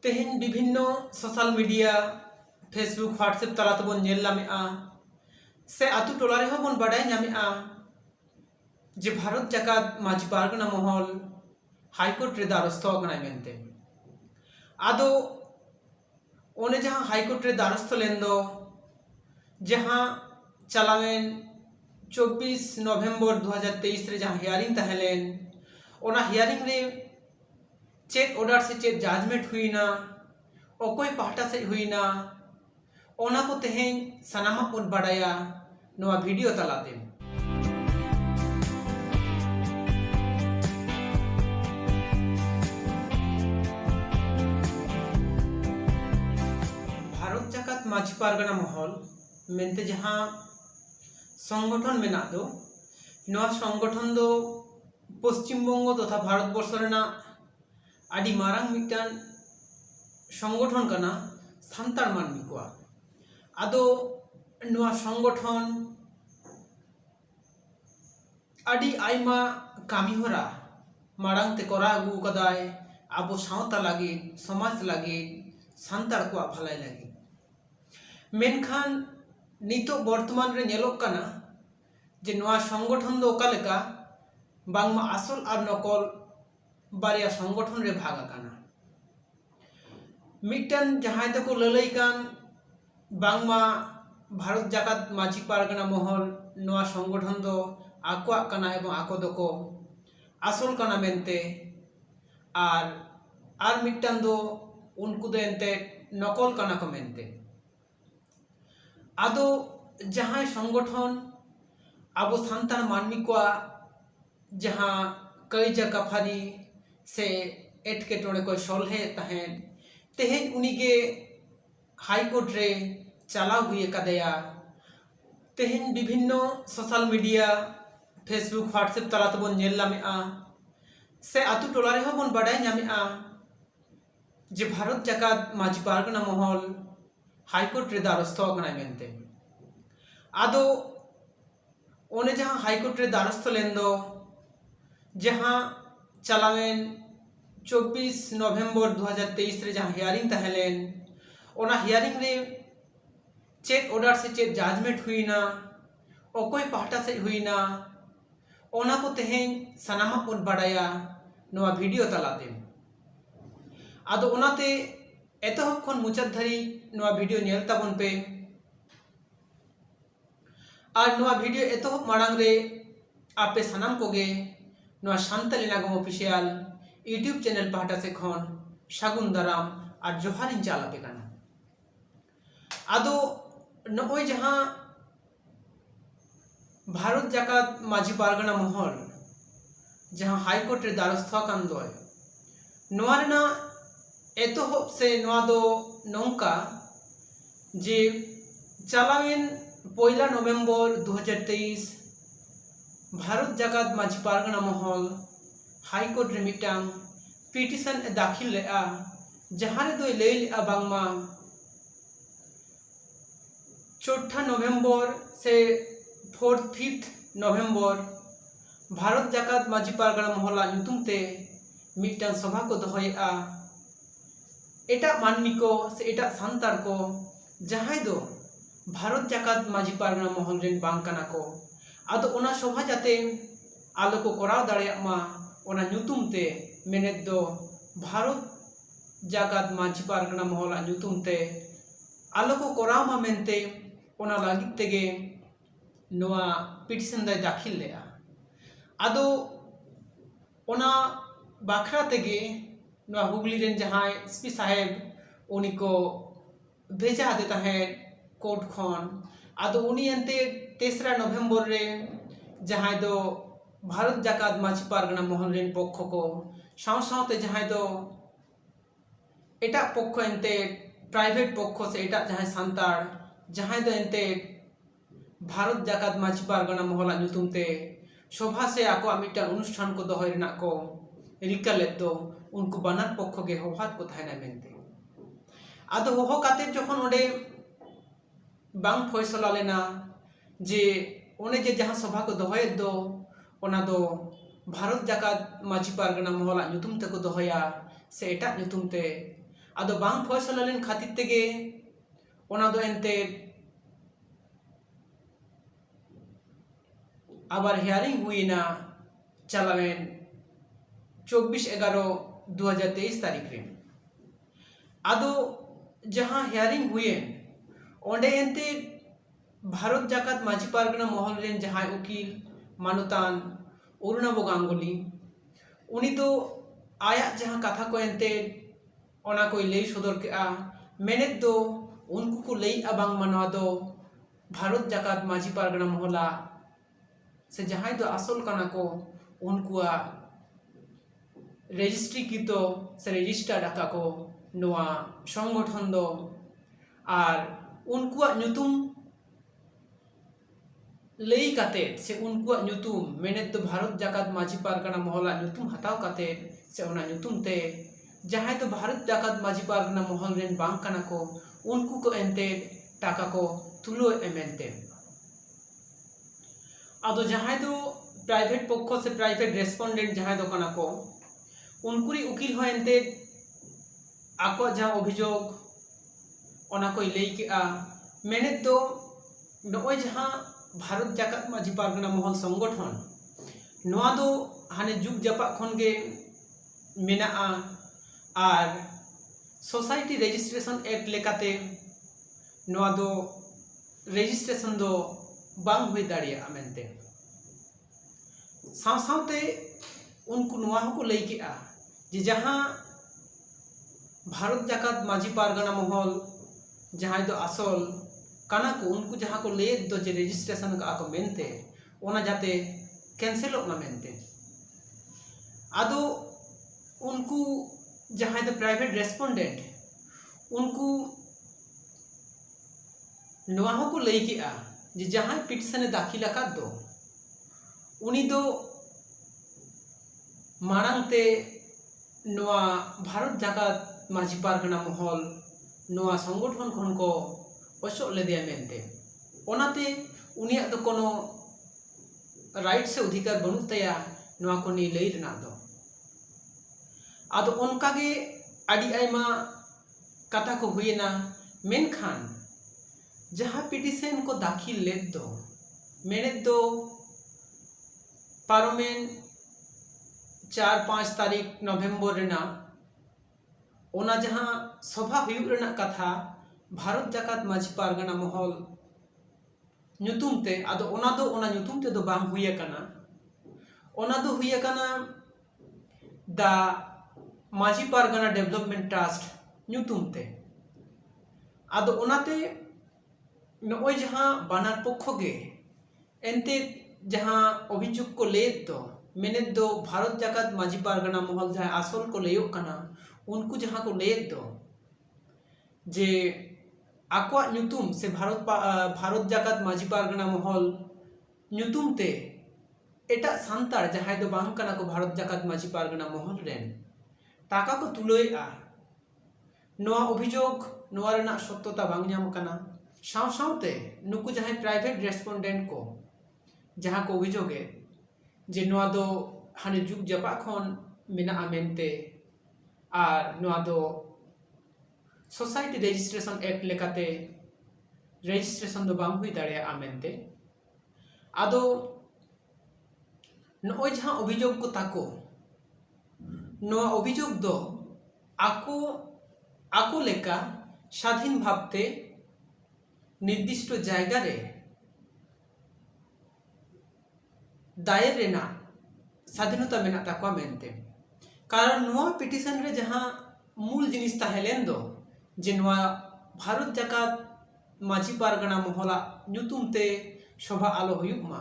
ᱛᱮᱦᱮᱧ ᱵᱤᱵᱷᱤᱱᱱᱚ social media Facebook WhatsApp ᱛᱟᱞᱟ ᱛᱮᱵᱚᱱ ᱧᱮᱞ ᱧᱟᱢᱮᱜᱼᱟ ᱥᱮ ᱟᱛᱳ ᱴᱚᱞᱟ ᱨᱮᱦᱚᱸ ᱵᱚᱱ ᱵᱟᱰᱟᱭ ᱧᱟᱢᱮᱜᱼᱟ ᱡᱮ ᱵᱷᱟᱨᱚᱛ ᱡᱟᱠᱟᱛ ᱢᱟᱹᱡᱷᱤ ᱯᱟᱨᱜᱟᱱᱟ ᱢᱚᱦᱚᱞ ᱦᱟᱭᱠᱳᱨᱴ ᱨᱮ ᱫᱟᱨᱚᱥᱛᱚ ᱟᱠᱟᱱᱟᱭ ᱢᱮᱱᱛᱮ ᱟᱫᱚ ᱚᱱᱮ ᱡᱟᱦᱟᱸ ᱦᱟᱭᱠᱳᱨᱴ ᱨᱮ ᱫᱟᱨᱚᱥᱛᱚ ᱞᱮᱱ ᱫᱚ ᱡᱟᱦᱟᱸ ᱪᱟᱞᱟᱣᱮᱱ ᱪᱚᱵᱵᱤᱥ ᱱᱚᱵᱷᱮᱢᱵᱚᱨ ᱫᱩ ᱦᱟᱡᱟᱨ ᱛᱮᱭᱤᱥ ᱨᱮ ᱡᱟᱦᱟᱸ ᱦᱤᱭᱟᱨᱤᱝ ᱛᱟᱦᱮᱸ ᱞᱮᱱ ᱚᱱᱟ ᱦᱤᱭᱟᱨᱤᱝ ᱨᱮ ᱪᱮᱫ ᱚᱰᱟᱨ ᱥᱮ ᱪᱮᱫ ᱡᱟᱡᱽᱢᱮᱱᱴ ᱦᱩᱭᱱᱟ ᱚᱠᱚᱭ ᱯᱟᱦᱴᱟ ᱥᱮᱡ ᱦᱩᱭᱱᱟ ᱚᱱᱟ ᱠᱚ ᱛᱮᱦᱮᱧ ᱥᱟᱱᱟᱢᱟᱜ ᱵᱚᱱ ᱵᱟᱰᱟᱭᱟ ᱱᱚᱣᱟ ᱵᱷᱤᱰᱤᱭᱳ ᱛᱟᱞᱟᱛᱮ ᱵᱷᱟᱨᱚᱛ ᱡᱟᱠᱟᱛ ᱢᱟᱹᱡᱷᱤ ᱯᱟᱨᱜᱟᱱᱟ ᱢᱚᱦᱚᱞ ᱢᱮᱱᱛᱮ ᱡᱟᱦᱟᱸ ᱥᱚᱝᱜᱚᱴᱷᱚᱱ ᱢᱮᱱᱟᱜ ᱫᱚ ᱱᱚᱣᱟ ᱥᱚᱝᱜᱚᱴᱷᱚᱱ ᱫᱚ ᱯᱚᱥᱪᱤᱢ ᱵᱚᱝᱜᱚ ᱛᱚᱛᱷᱟ ᱵᱷᱟᱨᱚᱛ ᱵᱚᱨᱥᱚ ᱨᱮᱱᱟᱜ ᱟᱹᱰᱤ ᱢᱟᱨᱟᱝ ᱢᱤᱫᱴᱟᱝ ᱥᱚᱝᱜᱚᱴᱷᱚᱱ ᱠᱟᱱᱟ ᱥᱟᱱᱛᱟᱲ ᱢᱟᱹᱱᱢᱤ ᱠᱚᱣᱟᱜ ᱟᱫᱚ ᱱᱚᱣᱟ ᱥᱚᱝᱜᱚᱴᱷᱚᱱ ᱟᱹᱰᱤ ᱟᱭᱢᱟ ᱠᱟᱹᱢᱤ ᱦᱚᱨᱟ ᱢᱟᱲᱟᱝ ᱛᱮ ᱠᱚᱨᱟᱣ ᱟᱹᱜᱩ ᱠᱟᱫᱟᱭ ᱟᱵᱚ ᱥᱟᱶᱛᱟ ᱞᱟᱹᱜᱤᱫ ᱥᱚᱢᱟᱡᱽ ᱞᱟᱹᱜᱤᱫ ᱥᱟᱱᱛᱟᱲ ᱠᱚᱣᱟᱜ ᱵᱷᱟᱹᱞᱟᱹᱭ ᱞᱟᱹᱜᱤᱫ ᱢᱮᱱᱠᱷᱟᱱ ᱱᱤᱛᱚᱜ ᱵᱚᱨᱛᱚᱢᱟᱱ ᱨᱮ ᱧᱮᱞᱚᱜ ᱠᱟᱱᱟ ᱡᱮ ᱱᱚᱣᱟ ᱥᱚᱝᱜᱚᱴᱷᱚᱱ ᱫᱚ ᱚᱠᱟ ᱞᱮᱠᱟ ᱵᱟᱝᱢᱟ ᱟᱥᱚᱞ ᱟᱨ ᱱᱚᱠᱚᱞ ᱵᱟᱨᱭᱟ ᱥᱚᱝᱜᱚᱴᱷᱚᱱ ᱨᱮ ᱵᱷᱟᱜᱽ ᱟᱠᱟᱱᱟ ᱢᱤᱫᱴᱟᱝ ᱡᱟᱦᱟᱸᱭ ᱫᱚᱠᱚ ᱞᱟᱹᱞᱟᱹᱭ ᱠᱟᱱ ᱵᱟᱝᱢᱟ ᱵᱷᱟᱨᱚᱛ ᱡᱟᱠᱟᱛ ᱢᱟᱹᱡᱷᱤ ᱯᱟᱨᱜᱟᱱᱟ ᱢᱚᱦᱚᱞ ᱱᱚᱣᱟ ᱥᱚᱝᱜᱚᱴᱷᱚᱱ ᱫᱚ ᱟᱠᱚᱣᱟᱜ ᱠᱟᱱᱟ ᱮᱵᱚᱝ ᱟᱠᱚ ᱫᱚᱠᱚ ᱟᱥᱚᱞ ᱠᱟᱱᱟ ᱢᱮᱱᱛᱮ ᱟᱨ ᱟᱨ ᱢᱤᱫᱴᱟᱝ ᱫᱚ ᱩᱱᱠᱩ ᱫᱚ ᱮᱱᱛᱮᱫ ᱱᱚᱠᱚᱞ ᱠᱟᱱᱟ ᱠᱚ ᱢᱮᱱᱛᱮ ᱟᱫᱚ ᱡᱟᱦᱟᱸᱭ ᱥᱚᱝᱜᱚᱴᱷᱚᱱ ᱟᱵᱚ ᱥᱟᱱᱛᱟᱲ ᱢᱟᱹᱱᱢᱤ ᱠᱚᱣᱟᱜ ᱡᱟᱦᱟᱸ ᱠᱟᱹᱭᱡᱟ ᱠᱟᱯᱷᱟᱨᱤ ᱥᱮ ᱮᱴᱠᱮᱴᱚᱬᱮ ᱠᱚᱭ ᱥᱚᱞᱦᱮᱭᱮᱫ ᱛᱟᱦᱮᱸᱫ ᱛᱮᱦᱮᱧ ᱩᱱᱤᱜᱮ ᱦᱟᱭᱠᱳᱨᱴ ᱨᱮ ᱪᱟᱞᱟᱣ ᱦᱩᱭ ᱟᱠᱟᱫᱮᱭᱟ ᱛᱮᱦᱮᱧ ᱵᱤᱵᱷᱤᱱᱱᱚ ᱥᱳᱥᱟᱞ ᱢᱤᱰᱤᱭᱟ ᱯᱷᱮᱥᱵᱩᱠ ᱦᱳᱣᱟᱴᱥᱮᱯ ᱛᱟᱞᱟ ᱛᱮᱵᱚᱱ ᱧᱮᱞ ᱧᱟᱢᱮᱜᱼᱟ ᱥᱮ ᱟᱛᱳ ᱴᱚᱞᱟ ᱨᱮᱦᱚᱸ ᱵᱚᱱ ᱵᱟᱰᱟᱭ ᱧᱟᱢᱮᱜᱼᱟ ᱡᱮ ᱵᱷᱟᱨᱚᱛ ᱡᱟᱠᱟᱛ ᱢᱟᱹᱡᱷᱤ ᱯᱟᱨᱜᱟᱱᱟ ᱢᱚᱦᱚᱞ ᱦᱟᱭᱠᱳᱨᱴ ᱨᱮ ᱫᱟᱨᱚᱥᱛᱷᱚ ᱟᱠᱟᱱᱟᱭ ᱢᱮᱱᱛᱮ ᱟᱫᱚ ᱚᱱᱮ ᱡᱟᱦᱟᱸ ᱦᱟᱭᱠᱳᱨᱴ ᱨᱮ ᱫᱟᱨᱚᱥᱛᱷᱚ ᱞᱮᱱ ᱫᱚ ᱡᱟᱦᱟᱸ ᱪᱟᱞᱟᱣᱮᱱ ᱪᱚᱵᱵᱤᱥ ᱱᱚᱵᱷᱮᱢᱵᱚᱨ ᱫᱩ ᱦᱟᱡᱟᱨ ᱛᱮᱭᱤᱥ ᱨᱮ ᱡᱟᱦᱟᱸ ᱦᱤᱭᱟᱨᱤᱝ ᱛᱟᱦᱮᱸ ᱞᱮᱱ ᱚᱱᱟ ᱦᱤᱭᱟᱨᱤᱝ ᱨᱮ ᱪᱮᱫ ᱚᱰᱟᱨ ᱥᱮ ᱪᱮᱫ ᱡᱟᱡᱽᱢᱮᱱᱴ ᱦᱩᱭᱱᱟ ᱚᱠᱚᱭ ᱯᱟᱦᱴᱟ ᱥᱮᱡ ᱦᱩᱭᱱᱟ ᱚᱱᱟ ᱠᱚ ᱛᱮᱦᱮᱧ ᱥᱟᱱᱟᱢᱟᱜ ᱵᱚᱱ ᱵᱟᱰᱟᱭᱟ ᱱᱚᱣᱟ ᱵᱷᱤᱰᱤᱭᱳ ᱛᱟᱞᱟᱛᱮ ᱟᱫᱚ ᱚᱱᱟᱛᱮ ᱮᱛᱚᱦᱚᱵ ᱠᱷᱚᱱ ᱢᱩᱪᱟᱹᱫ ᱫᱷᱟᱹᱨᱤᱡ ᱱᱚᱣᱟ ᱵᱷᱤᱰᱤᱭᱳ ᱧᱮᱞ ᱛᱟᱵᱚᱱ ᱯᱮ ᱟᱨ ᱱᱚᱣᱟ ᱵᱷᱤᱰᱤᱭᱳ ᱮᱛᱚᱦᱚᱵ ᱢᱟᱲᱟᱝ ᱨᱮ ᱟᱯᱮ ᱥᱟᱱᱟᱢ ᱠᱚᱜᱮ ᱱᱚᱣᱟ ᱥᱟᱱᱛᱟᱞᱤ ᱱᱟᱜᱟᱢ ᱚᱯᱷᱤᱥᱤᱭᱟᱞ ᱤᱭᱩᱴᱩᱵᱽ ᱪᱮᱱᱮᱞ ᱯᱟᱦᱴᱟ ᱥᱮᱡ ᱠᱷᱚᱱ ᱥᱟᱹᱜᱩᱱ ᱫᱟᱨᱟᱢ ᱟᱨ ᱡᱚᱦᱟᱨᱤᱧ ᱪᱟᱞ ᱟᱯᱮ ᱠᱟᱱᱟ ᱟᱫᱚ ᱱᱚᱜᱼᱚᱭ ᱡᱟᱦᱟᱸ ᱵᱷᱟᱨᱚᱛ ᱡᱟᱠᱟᱛ ᱢᱟᱹᱡᱷᱤ ᱯᱟᱨᱜᱟᱱᱟ ᱢᱚᱦᱚᱞ ᱡᱟᱦᱟᱸ ᱦᱟᱭᱠᱳᱨᱴ ᱨᱮ ᱫᱟᱨᱚᱥᱛᱷ ᱟᱠᱟᱱ ᱫᱚᱭ ᱱᱚᱣᱟ ᱨᱮᱱᱟᱜ ᱮᱛᱚᱦᱚᱵ ᱥᱮ ᱱᱚᱣᱟ ᱫᱚ ᱱᱚᱝᱠᱟ ᱡᱮ ᱪᱟᱞᱟᱣᱮᱱ ᱯᱚᱭᱞᱟ ᱱᱚᱵᱷᱮᱢᱵᱚᱨ ᱫᱩ ᱦᱟᱡᱟᱨ ᱛᱮᱭᱤᱥ ᱵᱷᱟᱨᱚᱛ ᱡᱟᱠᱟᱛ ᱢᱟᱹᱡᱷᱤ ᱯᱟᱨᱜᱟᱱᱟ ᱢᱚᱦᱚᱞ ᱦᱟᱭᱠᱳᱨᱴ ᱨᱮ ᱢᱤᱫᱴᱟᱝ ᱯᱤᱴᱤᱥᱚᱱ ᱮ ᱫᱟᱹᱠᱷᱤᱞ ᱞᱮᱫᱼᱟ, ᱡᱟᱦᱟᱸ ᱨᱮᱫᱚᱭ ᱞᱟᱹᱭ ᱞᱮᱫᱼᱟ ᱵᱟᱝᱢᱟ ᱪᱳᱣᱛᱷᱟ ᱱᱚᱵᱷᱮᱢᱵᱚᱨ ᱥᱮ fourth fifth November Bharat Jakat Majhi Pargana ᱢᱚᱦᱚᱞᱟᱜ ᱧᱩᱛᱩᱢ ᱛᱮ ᱢᱤᱫᱴᱟᱝ ᱥᱚᱵᱷᱟ ᱠᱚ ᱫᱚᱦᱚᱭᱮᱫᱼᱟ᱾ ᱮᱴᱟᱜ ᱢᱟᱹᱱᱢᱤ ᱠᱚ ᱥᱮ ᱮᱴᱟᱜ ᱥᱟᱱᱛᱟᱲ ᱠᱚ ᱡᱟᱦᱟᱸᱭ ᱫᱚ ᱵᱷᱟᱨᱚᱛ ᱡᱟᱠᱟᱛ ᱢᱟᱹᱡᱷᱤ ᱯᱟᱨᱜᱟᱱᱟ ᱢᱚᱦᱚᱞ ᱨᱮᱱ ᱵᱟᱝ ᱠᱟᱱᱟ ᱠᱚ, ᱟᱫᱚ ᱚᱱᱟ ᱥᱚᱵᱷᱟ ᱡᱟᱛᱮ ᱟᱞᱚ ᱠᱚ ᱠᱚᱨᱟᱣ ᱫᱟᱲᱮᱭᱟᱜ ᱢᱟ ᱚᱱᱟ ᱧᱩᱛᱩᱢ ᱛᱮ ᱢᱮᱱᱮᱛ ᱫᱚ ᱵᱷᱟᱨᱚᱛ ᱡᱟᱠᱟᱛ ᱢᱟᱹᱡᱷᱤ ᱯᱟᱨᱜᱟᱱᱟ ᱢᱚᱦᱚᱞᱟᱜ ᱧᱩᱛᱩᱢ ᱛᱮ ᱟᱞᱚ ᱠᱚ ᱠᱚᱨᱟᱣ ᱢᱟ ᱢᱮᱱᱛᱮ ᱚᱱᱟ ᱞᱟᱹᱜᱤᱫ ᱛᱮᱜᱮ ᱱᱚᱣᱟ ᱯᱤᱴᱤᱥᱮᱱ ᱫᱚᱭ ᱫᱟᱹᱠᱷᱤᱞ ᱞᱮᱜᱼᱟ ᱟᱫᱚ ᱚᱱᱟ ᱵᱟᱠᱷᱨᱟ ᱛᱮᱜᱮ ᱱᱚᱣᱟ ᱦᱩᱜᱽᱞᱤ ᱨᱮᱱ ᱡᱟᱦᱟᱸᱭ ᱮᱥ ᱯᱤ ᱥᱟᱦᱮᱵᱽ ᱩᱱᱤ ᱠᱚ ᱵᱷᱮᱡᱟ ᱟᱫᱮ ᱛᱟᱦᱮᱸᱫ ᱠᱳᱨᱴ ᱠᱷᱚᱱ ᱟᱫᱚ ᱩᱱᱤ ᱮᱱᱛᱮ ᱛᱮᱥᱨᱟ ᱱᱚᱵᱷᱮᱢᱵᱚᱨ ᱨᱮ ᱡᱟᱦᱟᱸᱭ ᱫᱚ ᱵᱷᱟᱨᱚᱛ ᱡᱟᱠᱟᱛ ᱢᱟᱹᱡᱷᱤ ᱯᱟᱨᱜᱟᱱᱟ ᱢᱚᱦᱚᱞ ᱨᱮᱱ ᱯᱚᱠᱠᱷᱚ ᱠᱚ ᱥᱟᱶ ᱥᱟᱶᱛᱮ ᱡᱟᱦᱟᱸᱭ ᱫᱚ ᱮᱴᱟᱜ ᱯᱚᱠᱠᱷᱚ ᱮᱱᱛᱮ ᱯᱨᱟᱭᱵᱷᱮᱴ ᱯᱚᱠᱠᱷᱚ ᱥᱮ ᱮᱴᱟᱜ ᱡᱟᱦᱟᱸᱭ ᱥᱟᱱᱛᱟᱲ ᱡᱟᱦᱟᱸᱭ ᱫᱚ ᱮᱱᱛᱮ ᱵᱷᱟᱨᱚᱛ ᱡᱟᱠᱟᱛ ᱢᱟᱹᱡᱷᱤ ᱯᱟᱨᱜᱟᱱᱟ ᱢᱚᱦᱚᱞᱟᱜ ᱧᱩᱛᱩᱢ ᱛᱮ ᱥᱚᱵᱷᱟ ᱥᱮ ᱟᱠᱚᱣᱟᱜ ᱢᱤᱫᱴᱟᱝ ᱚᱱᱩᱥᱴᱷᱟᱱ ᱠᱚ ᱫᱚᱦᱚᱭ ᱨᱮᱱᱟᱜ ᱠᱚ ᱨᱤᱠᱟᱹ ᱞᱮᱫ ᱫᱚ ᱩᱱᱠᱩ ᱵᱟᱱᱟᱨ ᱯᱚᱠᱠᱷᱚ ᱜᱮ ᱦᱚᱦᱚᱣᱟᱫ ᱠᱚ ᱛᱟᱦᱮᱱᱟ ᱢᱮᱱᱛᱮ ᱟᱫᱚ ᱦᱚᱦᱚ ᱠᱟᱛᱮ ᱡᱚᱠᱷᱚᱱ ᱚᱸᱰᱮ ᱵᱟᱝ ᱯᱷᱚᱭᱥᱚᱞᱟ ᱞᱮᱱᱟ ᱡᱮ ᱚᱱᱮ ᱡᱮ ᱡᱟᱦᱟᱸ ᱥᱚᱵᱷᱟ ᱠᱚ ᱫᱚᱦᱚᱭᱮᱫ ᱫᱚ ᱚᱱᱟ ᱫᱚ ᱵᱷᱟᱨᱚᱛ ᱡᱟᱠᱟᱛ ᱢᱟᱹᱡᱷᱤ ᱯᱟᱨᱜᱟᱱᱟ ᱢᱚᱦᱚᱞᱟᱜ ᱧᱩᱛᱩᱢ ᱛᱮᱠᱚ ᱫᱚᱦᱚᱭᱟ ᱥᱮ ᱮᱴᱟᱜ ᱧᱩᱛᱩᱢ ᱛᱮ ᱟᱫᱚ ᱵᱟᱝ ᱯᱷᱚᱭᱥᱚᱞᱟ ᱞᱮᱱ ᱠᱷᱟᱹᱛᱤᱨ ᱛᱮᱜᱮ ᱚᱱᱟ ᱫᱚ ᱮᱱᱛᱮ ᱟᱵᱟᱨ ᱦᱮᱭᱟᱨᱤᱝ ᱦᱩᱭᱮᱱᱟ ᱪᱟᱞᱟᱣᱮᱱ ᱪᱚᱵᱵᱤᱥ ᱮᱜᱟᱨᱚ ᱫᱩ ᱦᱟᱡᱟᱨ ᱛᱮᱭᱤᱥ ᱛᱟᱹᱨᱤᱠᱷ ᱨᱮ ᱟᱫᱚ ᱡᱟᱦᱟᱸ ᱦᱮᱭᱟᱨᱤᱝ ᱦᱩᱭᱮᱱ ᱚᱸᱰᱮ ᱮᱱᱛᱮ ᱵᱷᱟᱨᱚᱛ ᱡᱟᱠᱟᱛ ᱢᱟᱹᱡᱷᱤ ᱯᱟᱨᱜᱟᱱᱟ ᱢᱚᱦᱚᱞ ᱨᱮᱱ ᱡᱟᱦᱟᱸᱭ ᱩᱠᱤᱞ ᱢᱟᱱᱚᱛᱟᱱ ᱚᱨᱩᱱᱟᱵᱚ ᱜᱟᱝᱜᱩᱞᱤ ᱩᱱᱤ ᱫᱚ ᱟᱭᱟᱜ ᱡᱟᱦᱟᱸ ᱠᱟᱛᱷᱟ ᱠᱚ ᱮᱱᱛᱮ ᱚᱱᱟ ᱠᱚᱭ ᱞᱟᱹᱭ ᱥᱚᱫᱚᱨ ᱠᱮᱫᱼᱟ ᱢᱮᱱᱮᱛ ᱫᱚ ᱩᱱᱠᱩ ᱠᱚ ᱞᱟᱹᱭᱮᱫᱼᱟ ᱵᱟᱝᱢᱟ ᱱᱚᱣᱟ ᱫᱚ ᱵᱷᱟᱨᱚᱛ ᱡᱟᱠᱟᱛ ᱢᱟᱹᱡᱷᱤ ᱯᱟᱨᱜᱟᱱᱟ ᱢᱚᱦᱚᱞᱟᱜ ᱥᱮ ᱡᱟᱦᱟᱸᱭ ᱫᱚ ᱟᱥᱚᱞ ᱠᱟᱱᱟ ᱠᱚ ᱩᱱᱠᱩᱣᱟᱜ ᱨᱮᱡᱤᱥᱴᱨᱤ ᱠᱤᱛᱚ ᱥᱮ ᱨᱮᱡᱤᱥᱴᱟᱨ ᱟᱠᱟᱫ ᱠᱚ ᱱᱚᱣᱟ ᱥᱚᱝᱜᱚᱴᱷᱚᱱ ᱫᱚ ᱟᱨ ᱩᱱᱠᱩᱣᱟᱜ ᱧᱩᱛᱩᱢ ᱞᱟᱹᱭ ᱠᱟᱛᱮ ᱥᱮ ᱩᱱᱠᱩᱣᱟᱜ ᱧᱩᱛᱩᱢ ᱢᱮᱱᱮᱛ ᱫᱚ ᱵᱷᱟᱨᱚᱛ ᱡᱟᱠᱟᱛ ᱢᱟᱹᱡᱷᱤ ᱯᱟᱨᱜᱟᱱᱟ ᱢᱚᱦᱚᱞ ᱟᱜ ᱧᱩᱛᱩᱢ ᱦᱟᱛᱟᱣ ᱠᱟᱛᱮ ᱥᱮ ᱚᱱᱟ ᱧᱩᱛᱩᱢ ᱛᱮ ᱡᱟᱦᱟᱸᱭ ᱫᱚ ᱵᱷᱟᱨᱚᱛ ᱡᱟᱠᱟᱛ ᱢᱟᱹᱡᱷᱤ ᱯᱟᱨᱜᱟᱱᱟ ᱢᱚᱦᱚᱞ ᱨᱮᱱ ᱵᱟᱝ ᱠᱟᱱᱟ ᱠᱚ ᱩᱱᱠᱩ ᱠᱚ ᱮᱱᱛᱮ ᱴᱟᱠᱟ ᱠᱚ ᱛᱩᱞᱟᱹᱣ ᱮᱫᱼᱟ ᱢᱮᱱᱛᱮ ᱟᱫᱚ ᱡᱟᱦᱟᱸᱭ ᱫᱚ ᱯᱨᱟᱭᱵᱷᱮᱴ ᱯᱚᱠᱠᱷᱚ ᱥᱮ ᱯᱨᱟᱭᱵᱷᱮᱴ ᱨᱮᱥᱯᱚᱱᱰᱮᱱᱴ ᱡᱟᱦᱟᱸᱭ ᱫᱚ ᱠᱟᱱᱟ ᱠᱚ ᱩᱱᱠᱩᱨᱤ ᱩᱠᱤᱞ ᱦᱚᱸ ᱮᱱᱛᱮ ᱟᱠᱚᱣᱟᱜ ᱡᱟᱦᱟᱸ ᱚᱵᱷᱤᱡᱳᱜᱽ ᱚᱱᱟ ᱠᱚᱭ ᱞᱟᱹᱭ ᱠᱮᱫᱼᱟ ᱢᱮᱱᱮᱛ ᱫᱚ ᱱᱚᱜᱼᱚᱭ ᱡᱟᱦᱟᱸ ᱵᱷᱟᱨᱚᱛ ᱡᱟᱠᱟᱛ ᱢᱟᱹᱡᱷᱤ ᱯᱟᱨᱜᱟᱱᱟ ᱢᱚᱦᱚᱞ ᱥᱚᱝᱜᱚᱴᱷᱚᱱ ᱱᱚᱣᱟ ᱫᱚ ᱦᱟᱱᱮ ᱡᱩᱜᱽ ᱡᱟᱯᱟᱜ ᱠᱷᱚᱱ ᱜᱮ ᱢᱮᱱᱟᱜᱼᱟ ᱟᱨ ᱥᱳᱥᱟᱭᱴᱤ ᱨᱮᱡᱤᱥᱴᱨᱮᱥᱚᱱ ᱮᱠᱴ ᱞᱮᱠᱟᱛᱮ ᱱᱚᱣᱟ ᱫᱚ ᱨᱮᱡᱤᱥᱴᱨᱮᱥᱚᱱ ᱫᱚ ᱵᱟᱝ ᱦᱩᱭ ᱫᱟᱲᱮᱭᱟᱜᱼᱟ ᱢᱮᱱᱛᱮ ᱥᱟᱶ ᱥᱟᱶᱛᱮ ᱩᱱᱠᱩ ᱱᱚᱣᱟ ᱦᱚᱸᱠᱚ ᱞᱟᱹᱭ ᱠᱮᱫᱼᱟ ᱡᱮ ᱡᱟᱦᱟᱸ ᱵᱷᱟᱨᱚᱛ ᱡᱟᱠᱟᱛ ᱢᱟᱹᱡᱷᱤ ᱯᱟᱨᱜᱟᱱᱟ ᱢᱚᱦᱚᱞ ᱡᱟᱦᱟᱸᱭ ᱫᱚ ᱟᱥᱚᱞ ᱠᱟᱱᱟ ᱠᱚ ᱩᱱᱠᱩ ᱡᱟᱦᱟᱸ ᱠᱚ ᱞᱟᱹᱭᱮᱫ ᱫᱚ ᱡᱮ ᱨᱮᱡᱤᱥᱴᱨᱮᱥᱚᱱ ᱠᱟᱜᱼᱟ ᱠᱚ ᱢᱮᱱᱛᱮ ᱚᱱᱟ ᱡᱟᱛᱮ ᱠᱮᱱᱥᱮᱞᱚᱜ ᱢᱟ ᱢᱮᱱᱛᱮ ᱟᱫᱚ ᱩᱱᱠᱩ ᱡᱟᱦᱟᱸᱭ ᱫᱚ ᱯᱨᱟᱭᱵᱷᱮᱴ ᱨᱮᱥᱯᱚᱱᱰᱮᱱᱴ ᱩᱱᱠᱩ ᱱᱚᱣᱟ ᱦᱚᱸᱠᱚ ᱞᱟᱹᱭ ᱠᱮᱜᱼᱟ ᱡᱮ ᱡᱟᱦᱟᱸᱭ ᱯᱤᱴᱤᱥᱮᱱᱮ ᱫᱟᱹᱠᱷᱤᱞ ᱟᱠᱟᱫ ᱫᱚ ᱩᱱᱤ ᱫᱚ ᱢᱟᱲᱟᱝ ᱛᱮ ᱱᱚᱣᱟ ᱵᱷᱟᱨᱚᱛ ᱡᱟᱠᱟᱛ ᱢᱟᱹᱡᱷᱤ ᱯᱟᱨᱜᱟᱱᱟ ᱢᱚᱦᱚᱞ ᱱᱚᱣᱟ ᱥᱚᱝᱜᱚᱴᱷᱚᱱ ᱠᱷᱚᱱ ᱠᱚ ᱚᱪᱚᱜ ᱞᱮᱫᱮᱭᱟ ᱢᱮᱱᱛᱮ ᱚᱱᱟᱛᱮ ᱩᱱᱤᱭᱟᱜ ᱫᱚ ᱠᱚᱱᱚ ᱨᱟᱭᱤᱴ ᱥᱮ ᱚᱫᱷᱤᱠᱟᱨ ᱵᱟᱹᱱᱩᱜ ᱛᱟᱭᱟ ᱱᱚᱣᱟ ᱠᱚ ᱱᱤᱭᱮ ᱞᱟᱹᱭ ᱨᱮᱱᱟᱜ ᱫᱚ ᱟᱫᱚ ᱚᱱᱠᱟᱜᱮ ᱟᱹᱰᱤ ᱟᱭᱢᱟ ᱠᱟᱛᱷᱟ ᱠᱚ ᱦᱩᱭ ᱮᱱᱟ ᱢᱮᱱᱠᱷᱟᱱ ᱡᱟᱦᱟᱸ ᱯᱤᱴᱤᱥᱮᱱ ᱠᱚ ᱫᱟᱹᱠᱷᱤᱞ ᱞᱮᱫ ᱫᱚ ᱢᱮᱱᱮᱫ ᱫᱚ ᱯᱟᱨᱚᱢᱮᱱ ᱪᱟᱨ ᱯᱟᱸᱪ ᱛᱟᱹᱨᱤᱠᱷ ᱱᱚᱵᱷᱮᱢᱵᱚᱨ ᱨᱮᱱᱟᱜ ᱚᱱᱟ ᱡᱟᱦᱟᱸ ᱥᱚᱵᱷᱟ ᱦᱩᱭᱩᱜ ᱨᱮᱱᱟᱜ ᱠᱟᱛᱷᱟ ᱵᱷᱟᱨᱚᱛ ᱡᱟᱠᱟᱛ ᱢᱟᱹᱡᱷᱤ ᱯᱟᱨᱜᱟᱱᱟ ᱢᱚᱦᱚᱞ ᱧᱩᱛᱩᱢ ᱛᱮ ᱟᱫᱚ ᱚᱱᱟ ᱫᱚ ᱚᱱᱟ ᱧᱩᱛᱩᱢ ᱛᱮᱫᱚ ᱵᱟᱝ ᱦᱩᱭ ᱟᱠᱟᱱᱟ ᱚᱱᱟ ᱫᱚ ᱦᱩᱭ ᱟᱠᱟᱱᱟ ᱫᱟ ᱢᱟᱹᱡᱷᱤ ᱯᱟᱨᱜᱟᱱᱟ ᱰᱮᱵᱷᱞᱚᱯᱢᱮᱱᱴ ᱴᱨᱟᱥᱴ ᱧᱩᱛᱩᱢ ᱛᱮ ᱟᱫᱚ ᱚᱱᱟᱛᱮ ᱱᱚᱜᱼᱚᱭ ᱡᱟᱦᱟᱸ ᱵᱟᱱᱟᱨ ᱯᱚᱠᱠᱷᱚ ᱜᱮ ᱮᱱᱛᱮ ᱡᱟᱦᱟᱸ ᱚᱵᱷᱤᱡᱳᱜᱽ ᱠᱚ ᱞᱟᱹᱭᱮᱫ ᱫᱚ ᱢᱮᱱᱮᱫ ᱫᱚ ᱵᱷᱟᱨᱚᱛ ᱡᱟᱠᱟᱛ ᱢᱟᱹᱡᱷᱤ ᱯᱟᱨᱜᱟᱱᱟ ᱢᱚᱦᱚᱞ ᱡᱟᱦᱟᱸ ᱟᱥᱚᱞ ᱠᱚ ᱞᱟᱹᱭᱚᱜ ᱠᱟᱱᱟ ᱩᱱᱠᱩ ᱡᱟᱦᱟᱸ ᱠᱚ ᱞᱟᱹᱭᱮᱫ ᱫᱚ ᱡᱮ ᱟᱠᱚᱣᱟᱜ ᱧᱩᱛᱩᱢ ᱥᱮ ᱵᱷᱟᱨᱚᱛ ᱵᱷᱟᱨᱚᱛ ᱡᱟᱠᱟᱛ ᱢᱟᱹᱡᱷᱤ ᱯᱟᱨᱜᱟᱱᱟ ᱢᱚᱦᱚᱞ ᱧᱩᱛᱩᱢ ᱛᱮ ᱮᱴᱟᱜ ᱥᱟᱱᱛᱟᱲ ᱡᱟᱦᱟᱸᱭ ᱫᱚ ᱵᱟᱝ ᱠᱟᱱᱟ ᱠᱚ ᱵᱷᱟᱨᱚᱛ ᱡᱟᱠᱟᱛ ᱢᱟᱹᱡᱷᱤ ᱯᱟᱨᱜᱟᱱᱟ ᱢᱚᱦᱚᱞ ᱨᱮᱱ ᱴᱟᱠᱟ ᱠᱚ ᱛᱩᱞᱟᱹᱣᱮᱫᱼᱟ ᱱᱚᱣᱟ ᱚᱵᱷᱤᱡᱳᱜᱽ ᱱᱚᱣᱟ ᱨᱮᱱᱟᱜ ᱥᱚᱛᱛᱚᱛᱟ ᱵᱟᱝ ᱧᱟᱢ ᱠᱟᱱᱟ ᱥᱟᱶ ᱥᱟᱶᱛᱮ ᱱᱩᱠᱩ ᱡᱟᱦᱟᱸᱭ ᱯᱨᱟᱭᱵᱷᱮᱴ ᱨᱮᱥᱯᱚᱱᱰᱮᱱᱴ ᱠᱚ ᱡᱟᱦᱟᱸ ᱠᱚ ᱚᱵᱷᱤᱡᱳᱜᱮᱫ ᱡᱮ ᱱᱚᱣᱟ ᱫᱚ ᱦᱟᱱᱮ ᱡᱩᱜᱽ ᱡᱟᱯᱟᱜ ᱠᱷᱚᱱ ᱢᱮᱱᱟᱜᱼᱟ ᱢᱮᱱᱛᱮ ᱟᱨ ᱱᱚᱣᱟ ᱫᱚ ᱥᱳᱥᱟᱭᱴᱤ ᱨᱮᱡᱤᱥᱴᱨᱮᱥᱚᱱ ᱮᱠᱴ ᱞᱮᱠᱟᱛᱮ ᱨᱮᱡᱤᱥᱴᱨᱮᱥᱚᱱ ᱫᱚ ᱵᱟᱝ ᱦᱩᱭ ᱫᱟᱲᱮᱭᱟᱜᱼᱟ ᱢᱮᱱᱛᱮ ᱟᱫᱚ ᱱᱚᱜᱼᱚᱭ ᱡᱟᱦᱟᱸ ᱚᱵᱷᱤᱡᱳᱜᱽ ᱠᱚ ᱛᱟᱠᱚ ᱱᱚᱣᱟ ᱚᱵᱷᱤᱡᱳᱜᱽ ᱫᱚ ᱟᱠᱚ ᱟᱠᱚ ᱞᱮᱠᱟ ᱥᱟᱫᱷᱤᱱ ᱵᱷᱟᱵᱛᱮ ᱱᱤᱨᱫᱤᱥᱴᱚ ᱡᱟᱭᱜᱟ ᱨᱮ ᱫᱟᱭᱮᱨ ᱨᱮᱱᱟᱜ ᱥᱟᱫᱷᱤᱱᱚᱛᱟ ᱢᱮᱱᱟᱜ ᱛᱟᱠᱚᱣᱟ ᱢᱮᱱᱛᱮ ᱠᱟᱨᱚᱱ ᱱᱚᱣᱟ ᱯᱤᱴᱤᱥᱮᱱ ᱨᱮ ᱡᱟᱦᱟᱸ ᱢᱩᱞ ᱡᱤᱱᱤᱥ ᱛᱟᱦᱮᱸ ᱞᱮᱱ ᱫᱚ ᱡᱮ ᱱᱚᱣᱟ ᱵᱷᱟᱨᱚᱛ ᱡᱟᱠᱟᱛ ᱢᱟᱹᱡᱷᱤ ᱯᱟᱨᱜᱟᱱᱟ ᱢᱚᱦᱚᱞᱟᱜ ᱧᱩᱛᱩᱢ ᱛᱮ ᱥᱚᱵᱷᱟ ᱟᱞᱚ ᱦᱩᱭᱩᱜ ᱢᱟ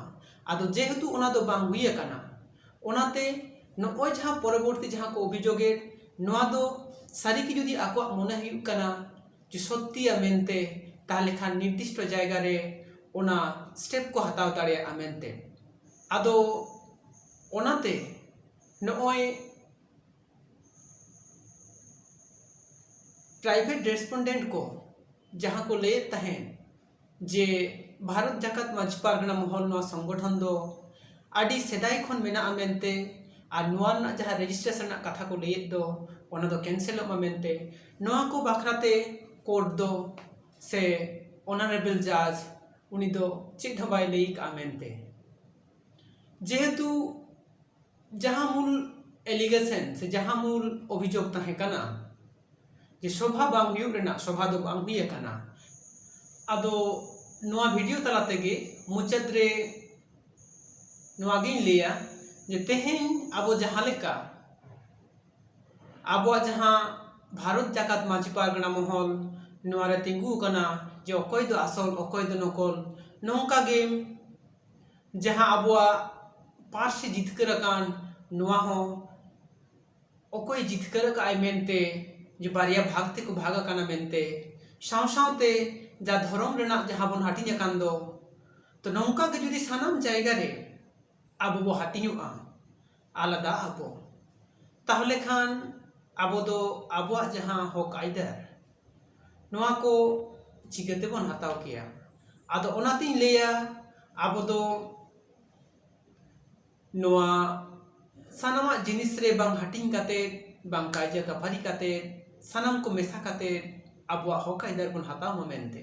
ᱟᱫᱚ ᱡᱮᱦᱮᱛᱩ ᱚᱱᱟ ᱫᱚ ᱵᱟᱝ ᱦᱩᱭ ᱟᱠᱟᱱᱟ ᱚᱱᱟᱛᱮ ᱱᱚᱜᱼᱚᱭ ᱡᱟᱦᱟᱸ ᱯᱚᱨᱚᱵᱚᱨᱛᱤ ᱡᱟᱦᱟᱸ ᱠᱚ ᱚᱵᱷᱤᱡᱳᱜᱽ ᱮᱫ ᱱᱚᱣᱟ ᱫᱚ ᱥᱟᱹᱨᱤ ᱜᱮ ᱡᱩᱫᱤ ᱟᱠᱚᱣᱟᱜ ᱢᱚᱱᱮ ᱦᱩᱭᱩᱜ ᱠᱟᱱᱟ ᱡᱮ ᱥᱚᱛᱛᱤᱭᱟ ᱢᱮᱱᱛᱮ ᱛᱟᱦᱚᱞᱮ ᱠᱷᱟᱱ ᱱᱤᱨᱫᱤᱥᱴᱚ ᱡᱟᱭᱜᱟ ᱨᱮ ᱚᱱᱟ ᱥᱴᱮᱯ ᱠᱚ ᱦᱟᱛᱟᱣ ᱫᱟᱲᱮᱭᱟᱜᱼᱟ ᱢᱮᱱᱛᱮ ᱟᱫᱚ ᱚᱱᱟᱛᱮ ᱱᱚᱜᱼᱚᱭ ᱯᱨᱟᱭᱵᱷᱮᱴ ᱨᱮᱥᱯᱚᱱᱰᱮᱱᱴ ᱠᱚ ᱡᱟᱦᱟᱸ ᱠᱚ ᱞᱟᱹᱭᱮᱫ ᱛᱟᱦᱮᱸᱫ ᱡᱮ ᱵᱷᱟᱨᱚᱛ ᱡᱟᱠᱟᱛ ᱢᱟᱹᱡᱷᱤ ᱯᱟᱨᱜᱟᱱᱟ ᱢᱚᱦᱚᱞ ᱱᱚᱣᱟ ᱥᱚᱝᱜᱚᱴᱷᱚᱱ ᱫᱚ ᱟᱹᱰᱤ ᱥᱮᱫᱟᱭ ᱠᱷᱚᱱ ᱢᱮᱱᱟᱜᱼᱟ ᱢᱮᱱᱛᱮ ᱟᱨ ᱱᱚᱣᱟ ᱨᱮᱱᱟᱜ ᱡᱟᱦᱟᱸ ᱨᱮᱡᱤᱥᱴᱨᱮᱥᱚᱱ ᱨᱮᱱᱟᱜ ᱠᱟᱛᱷᱟ ᱠᱚ ᱞᱟᱹᱭᱮᱫ ᱫᱚ ᱚᱱᱟ ᱫᱚ ᱠᱮᱱᱥᱮᱞᱚᱜ ᱢᱟ ᱢᱮᱱᱛᱮ ᱱᱚᱣᱟ ᱠᱚ ᱵᱟᱠᱷᱨᱟ ᱛᱮ ᱠᱳᱨᱴ ᱫᱚ ᱥᱮ ᱚᱱᱟᱨᱮᱵᱮᱞ ᱡᱟᱡᱽ ᱩᱱᱤ ᱫᱚ ᱪᱮᱫ ᱦᱚᱸ ᱵᱟᱭ ᱞᱟᱹᱭ ᱠᱟᱜᱼᱟ ᱢᱮᱱᱛᱮ ᱡᱮᱦᱮᱛᱩ ᱡᱟᱦᱟᱸ ᱢᱩᱞ ᱮᱞᱤᱜᱮᱥᱮᱱ ᱥᱮ ᱡᱟᱦᱟᱸ ᱢᱩᱞ ᱚᱵᱷᱤᱡᱳᱜᱽ ᱛᱟᱦᱮᱸ ᱠᱟᱱᱟ ᱡᱮ ᱥᱚᱵᱷᱟ ᱵᱟᱝ ᱦᱩᱭᱩᱜ ᱨᱮᱱᱟᱜ ᱥᱚᱵᱷᱟ ᱫᱚ ᱵᱟᱝ ᱦᱩᱭ ᱟᱠᱟᱱᱟ ᱟᱫᱚ ᱱᱚᱣᱟ ᱵᱷᱤᱰᱤᱭᱳ ᱛᱟᱞᱟ ᱛᱮᱜᱮ ᱢᱩᱪᱟᱹᱫ ᱨᱮ ᱱᱚᱣᱟ ᱜᱤᱧ ᱞᱟᱹᱭᱟ ᱡᱮ ᱛᱮᱦᱮᱧ ᱟᱵᱚ ᱡᱟᱦᱟᱸ ᱞᱮᱠᱟ ᱟᱵᱚᱣᱟᱜ ᱡᱟᱦᱟᱸ ᱵᱷᱟᱨᱚᱛ ᱡᱟᱠᱟᱛ ᱢᱟᱹᱡᱷᱤ ᱯᱟᱨᱜᱟᱱᱟ ᱢᱚᱦᱚᱞ ᱱᱚᱣᱟ ᱨᱮ ᱛᱤᱸᱜᱩ ᱟᱠᱟᱱᱟ ᱡᱮ ᱚᱠᱚᱭ ᱫᱚ ᱟᱥᱚᱞ ᱚᱠᱚᱭ ᱫᱚ ᱱᱚᱠᱚᱞ ᱱᱚᱝᱠᱟ ᱜᱮ ᱡᱟᱦᱟᱸ ᱟᱵᱚᱣᱟᱜ ᱯᱟᱹᱨᱥᱤ ᱡᱤᱛᱠᱟᱹᱨ ᱟᱠᱟᱱ ᱱᱚᱣᱟ ᱦᱚᱸ ᱚᱠᱚᱭ ᱡᱤᱛᱠᱟᱹᱨ ᱟᱠᱟᱫ ᱟᱭ ᱢᱮᱱᱛᱮ ᱡᱮ ᱵᱟᱨᱭᱟ ᱵᱷᱟᱜᱽ ᱛᱮᱠᱚ ᱵᱷᱟᱜᱽ ᱟᱠᱟᱱᱟ ᱢᱮᱱᱛᱮ ᱥᱟᱶ ᱥᱟᱶᱛᱮ ᱡᱟ ᱫᱷᱚᱨᱚᱢ ᱨᱮᱱᱟᱜ ᱡᱟᱦᱟᱸ ᱵᱚᱱ ᱦᱟᱹᱴᱤᱧ ᱟᱠᱟᱱ ᱫᱚ ᱛᱚ ᱱᱚᱝᱠᱟ ᱜᱮ ᱡᱩᱫᱤ ᱥᱟᱱᱟᱢ ᱡᱟᱭᱜᱟ ᱨᱮ ᱟᱵᱚ ᱵᱚ ᱦᱟᱹᱴᱤᱧᱚᱜᱼᱟ ᱟᱞᱟᱫᱟᱜ ᱟᱵᱚ ᱛᱟᱦᱚᱞᱮ ᱠᱷᱟᱱ ᱟᱵᱚ ᱫᱚ ᱟᱵᱚᱣᱟᱜ ᱡᱟᱦᱟᱸ ᱦᱚᱸᱠ ᱟᱹᱭᱫᱟᱹᱨ ᱱᱚᱣᱟ ᱠᱚ ᱪᱤᱠᱟᱹ ᱛᱮᱵᱚᱱ ᱦᱟᱛᱟᱣ ᱠᱮᱭᱟ ᱟᱫᱚ ᱚᱱᱟᱛᱤᱧ ᱞᱟᱹᱭᱟ ᱟᱵᱚ ᱫᱚ ᱱᱚᱣᱟ ᱥᱟᱱᱟᱢᱟᱜ ᱡᱤᱱᱤᱥ ᱨᱮ ᱵᱟᱝ ᱦᱟᱹᱴᱤᱧ ᱠᱟᱛᱮ ᱵᱟᱝ ᱠᱟᱭᱡᱟ ᱠᱟᱹᱯᱷᱟᱨᱤ ᱠᱟᱛᱮ ᱥᱟᱱᱟᱢ ᱠᱚ ᱢᱮᱥᱟ ᱠᱟᱛᱮ ᱟᱵᱚᱣᱟᱜ ᱦᱚᱸᱠ ᱟᱹᱭᱫᱟᱹᱨ ᱵᱚᱱ ᱦᱟᱛᱟᱣ ᱢᱟ ᱢᱮᱱᱛᱮ